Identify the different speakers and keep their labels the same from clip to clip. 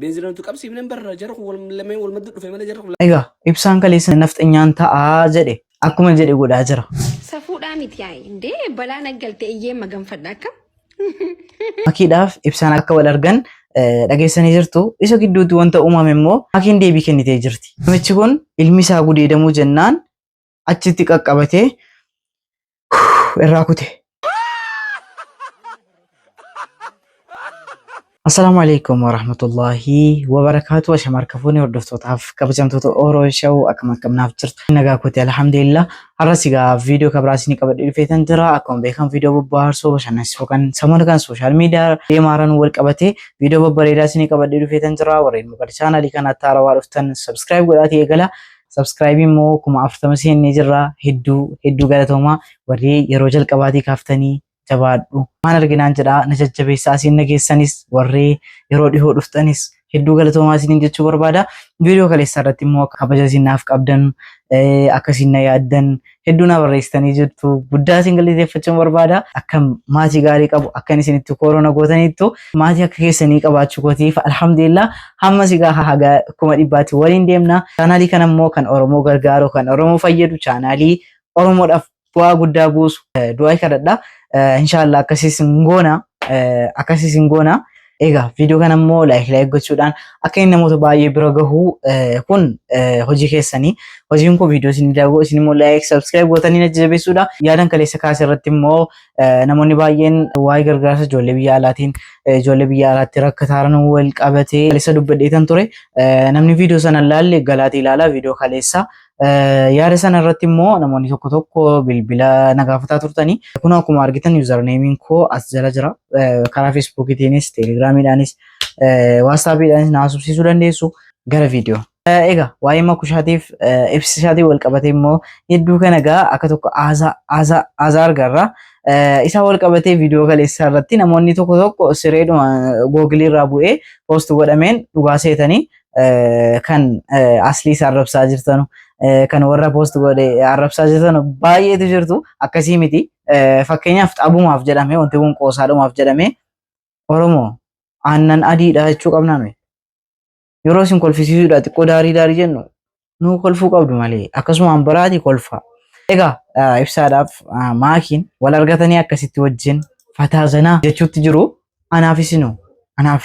Speaker 1: Beenzila nuti qabsiifne barra jara kun wal lameen wal maddu dhufe malee jara kun Egaa ibsaan
Speaker 2: kaleessa nafxanyaan ta'aa jedhe akkuma jedhe godhaa jira. Safuudhaa miti
Speaker 3: yaa'i. Indee balaa naggalte eyyee maganfadha akka.
Speaker 2: Makiidhaaf ibsaan akka wal argan eh, dhageessanii jirtu. Isa gidduutti wanta uumame immoo makiin deebii kennitee jirti. Namichi kun ilmi isaa gudeedamuu jennaan achitti qaqqabatee irraa kute. Assalaamu alaikum warahmatullaahi wabarakaatu ashama harka fuunee hordoftootaaf kabajamtoota Oro Show akkam akkam naaf jirtu nagaa kooti alhamdulillah har'as egaa viidiyoo kabraa isinii qabadhee dhufeetan jira akkuma beekamu viidiyoo bobbaarsoo bashannansiisoo kan samoona kan sooshaal miidiyaa deemaaraan wal qabatee viidiyoo babbareedaa isinii qabadhee dhufeetan jira warreen maqaa chaanaalii kanaatti haarawaa dhuftan sabskiraayib godhaatii eegala Subscribe immoo kuma afurtama seennee jirra. Hedduu hedduu galatoomaa warri yeroo jalqabaatii kaaftanii jabaadhu. Waan arginaan jedhaa na jajjabeessaa asiin na geessanis warri yeroo dhihoo dhuftanis hedduu galatoomaa isiniin jechuu barbaada. Viidiyoo kaleessaa irratti immoo kabaja isin naaf qabdan eh, akka isin na yaaddan hedduu naa barreessitanii jirtu guddaa isin galateeffachuun barbaada akka maatii gaarii qabu akkan isinitti koorona gootaniittu maatii akka keessanii qabaachuu kootiif alhamdulillah hamma sigaa haga kuma dhibbaatti waliin deemna chaanaalii kana immoo kan oromoo gargaaru kan oromoo fayyadu chaanaalii oromoodhaaf bu'aa guddaa buusu du'aa kadhadha inshaallah akkasiis hin goona akkasiis hin goona Egaa viidiyoo kana immoo laayik laayik gochuudhaan akka inni namoota baay'ee bira gahu eh, kun eh, hojii keessanii hojiin kun viidiyoo isin daawwatu isin immoo laayik sabskiraayib gootanii na jajjabeessuudha yaadan kaleessa kaase irratti immoo eh, namoonni baay'een waa'ee gargaarsa ijoollee biyya alaatiin eh, ijoollee biyya alaatti rakkataaran wal qabatee kaleessa dubbadheetan ture Eh, namni viidiyoo sana hin laalle galaati ilaala viidiyoo kaleessa Yaada sana irratti immoo namoonni tokko tokko bilbila na gaafataa turtanii. Kun akkuma argitan yuuzarneemiin koo as jala jira. Karaa feesbuukitiinis, teelegiraamiidhaanis, waatsaapiidhaanis na haasofsiisuu dandeessu gara viidiyoo. Egaa waa'ee makushaatiif ibsisaatiin wal qabatee immoo hedduu kana egaa akka tokko haasaa argarra. Isaa wal qabatee viidiyoo kaleessaa irratti namoonni tokko tokko sireedhuma googilii irraa bu'ee poost godhameen dhugaa seetanii kan asliis arrabsaa jirtanu kan warra poost godhe arrabsaa jirtanu baay'eetu jirtu akkasii miti fakkeenyaaf xabumaaf jedhamee wanti kun qoosaadhumaaf jedhamee oromoo aannan adiidha jechuu qabnaa nuyi yeroo isin kolfisiisuudha xiqqoo daarii daarii jennu nuu kolfuu qabdu malee akkasumaan biraati kolfaa egaa ibsaadhaaf maakiin wal argatanii akkasitti wajjin fataa zanaa jechuutti jiru anaaf isinu anaaf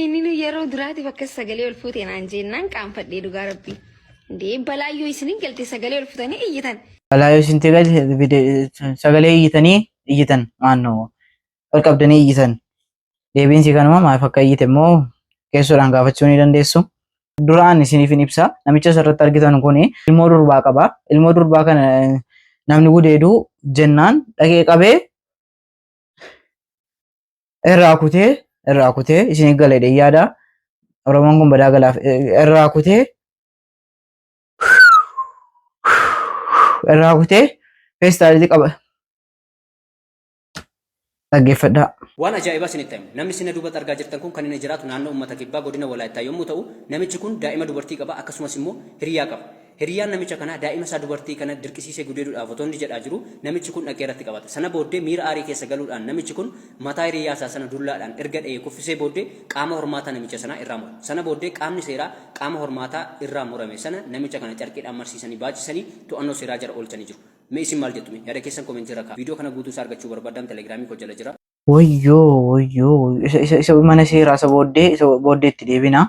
Speaker 3: Inni nu yeroo duraatiif akkas sagalee ol fuute naan jennaan qaanfadhee dhugaa rabbii. Dee balaayyoo isinin galte sagalee ol futanii iyyitan. Balaa yoo isin tegal
Speaker 2: sagalee iyyitanii iyyitan maannoo ol qabdanii iyyitan deebiin si kanuma maaf akka iyyite immoo keessoodhaan gaafachuu ni dandeessu. Duraan isiniif hin ibsa namicha asirratti argitan kun ilmoo durbaa qaba ilmoo durbaa kana namni gudeedu jennaan dhaqee qabee irraa kutee irraa kutee isin galeedha yaada oromoon kun badaa galaaf irraa kutee irraa kutee feestaalitti qaba dhaggeeffadhaa. Waan ajaa'ibaa
Speaker 4: isinitti hima. Namni sina duubatti argaa jirtan kun kan inni jiraatu naannoo uummata kibbaa godina Walaayittaa yommuu ta'u, namichi kun daa'ima dubartii qaba akkasumas immoo hiriyaa qaba. Hiriyyaan namicha kanaa daa'ima isaa dubartii kana dirqisiisee gudeeduudhaaf otoo inni jedhaa jiruu namichi kun dhaqee irratti qabata. Sana booddee miira aarii keessa galuudhaan namichi kun mataa hiriyyaa isaa sana dullaadhaan erga dha'ee kuffisee booddee qaama hormaataa namicha sanaa irraa mura. Sana booddee qaamni seeraa qaama hormaataa irraa murame sana namicha kana carqiidhaan marsiisanii baachisanii to'annoo seeraa jara oolchanii jiru. Mee isin maal jettu mee? Yaada keessan comment irra kaa'a. Video kana guutuu isaa argachuu barbaaddaan telegram koo jala jira. Wayyoo wayyoo
Speaker 2: wayyoo isa isa isa mana seeraa isa booddee isa booddee itti deebina.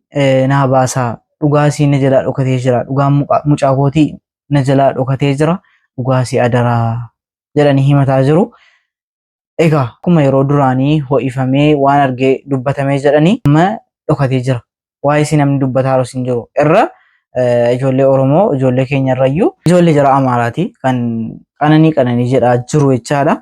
Speaker 2: eh, naa baasaa dhugaasii na jalaa dhokatee jira dhugaan muqa- mucaa kootii na jalaa dhokatee jira dhugaasii adaraa jedhanii himataa jiru. Egaa akkuma yeroo duraanii ho'ifamee waan argee dubbatamee jedhanii amma dhokatee jira. Waa'ee isii namni dubbataa jiru hin jiru. Irra eh, ijoollee Oromoo ijoollee keenya irrayyuu ijoollee jara Amaaraati kan qananii qananii jedhaa jiru jechaadha.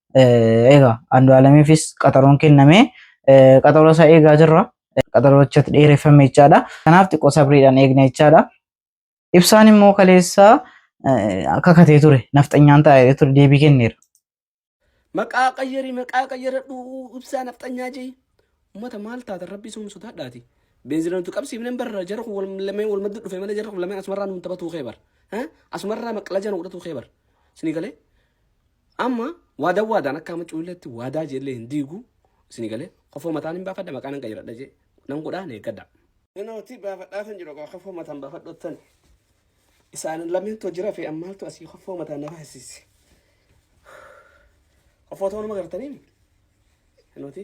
Speaker 2: Egaa Andu'aalamiifis qaxaroon kenname qaxaroo isaa eegaa jirra. Qaxaroochatti dheereffame jechaadha. Kanaaf xiqqoo sabriidhaan eegna jechaadha. Ibsaan immoo kaleessaa akka katee ture nafxanyaan taa'ee ture deebii kenneera.
Speaker 1: Maqaa qayyari maqaa qayyaradhu ibsaa nafxanyaa jee. Ummata maal taatan rabbii sun sodaadhaati. Beenzina nuti qabsiifneen barra jara kun lameen wal madda dhufe malee jara kun lameen asumarraa nuun taphatuu kee bar. Asumarraa maqlajaa nu godhatuu kee bar. Sinii galee Amma waadaa waadaan akka amma cuulleetti waadaa jeellee hin diigu isin galee kofoo mataan hin baafadha maqaan hin qayyadha jee nan godhaa hin eeggadha. Nanooti baafadhaa san jedhu kofoo mataan baafadhottan isaan lameentu jira fi ammaaltu asii kofoo mataan na baasisi. Kofoo ta'uu nama gartanii? Nanooti.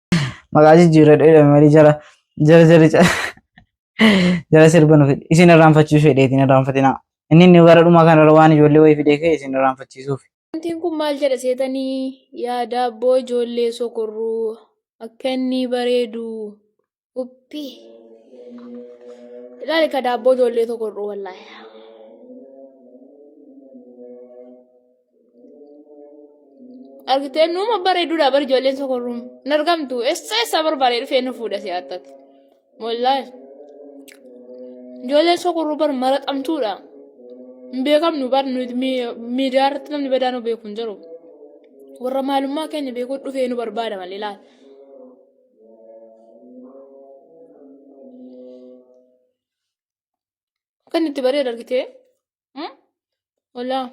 Speaker 2: maqaa jijjiirradhu jedhame malee jara jara jara jara jara sirba nuuf fide. isin irraanfachiisuu fedheetiin irraanfatinaa inni inni gara dhumaa kanarra waan ijoollee wayii fidee ka'e isin irraanfachiisuuf Wantiin kun maal
Speaker 5: jedha seetanii yaa daabboo ijoollee sokorruu akka inni bareedu uppi ilaali ka daabboo ijoollee sokorruu wallaahi. Argitee nuuma bareeduudha bar ijoolleen sokorruun. Hin argamtu. Eessa eessa barbaadee dhufee nu fuudha si attati. Wallaahi. Ijoolleen sokorruu bar maraxamtuudha. Hin beekamnu bar nuti mi- miidiyaa irratti namni badaa nu beeku hin jiru. Warra maalummaa keenya beekuu dhufee nu barbaada malee laata. Kan itti bareedu argitee. Walaa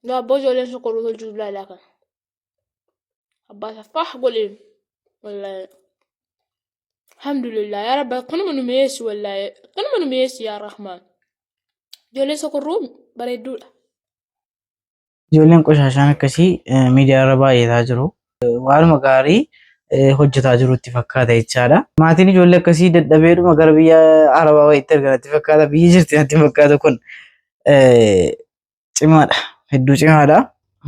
Speaker 5: daabboo ijoolleen sokoruu hojii ilaalaa kana. Abbaa isaa faah godheen. Wallaahi. Alhamdulillah yaa rabbi akkanuma nu mi'eessi wallaahi akkanuma nu mi'eessi yaa rahmaan. Ijoolleen sokorruu bareedduudha.
Speaker 2: Ijoolleen qoshashaan akkasii miidiyaa irra baay'ataa jiru. waanuma gaarii hojjetaa jiru itti fakkaata jechaadha. Maatiin ijoollee akkasii dadhabeedhuma gara biyya Arabaa wayiitti ergan itti fakkaata. Biyyi jirti natti fakkaata kun cimaadha. Hedduu cimaadha.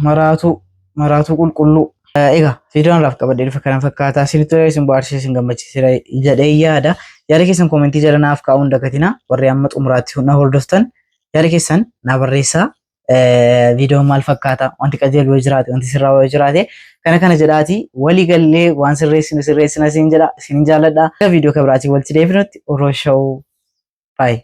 Speaker 2: Maraatuu maraatuu qulqulluu. Egaa viidiyoon irraaf qabadhee dhufe kana fakkaata. Sirriitti hojii isin bohaarsee isin gammachiisera jedhee yaada. Yaada keessan koomentii jala naaf kaa'uun dagatina. Warri amma xumuraatti na hordoftan yaada keessan naa barreessaa. viidiyoon maal fakkaata wanti qajeelu yoo jiraate wanti sirraa yoo jiraate kana kana jedhaati walii gallee waan sirreessinu sirreessina siin jedha siin jaalladha viidiyoo kabiraatiin walitti deebinutti uroo shawuu baay'ee.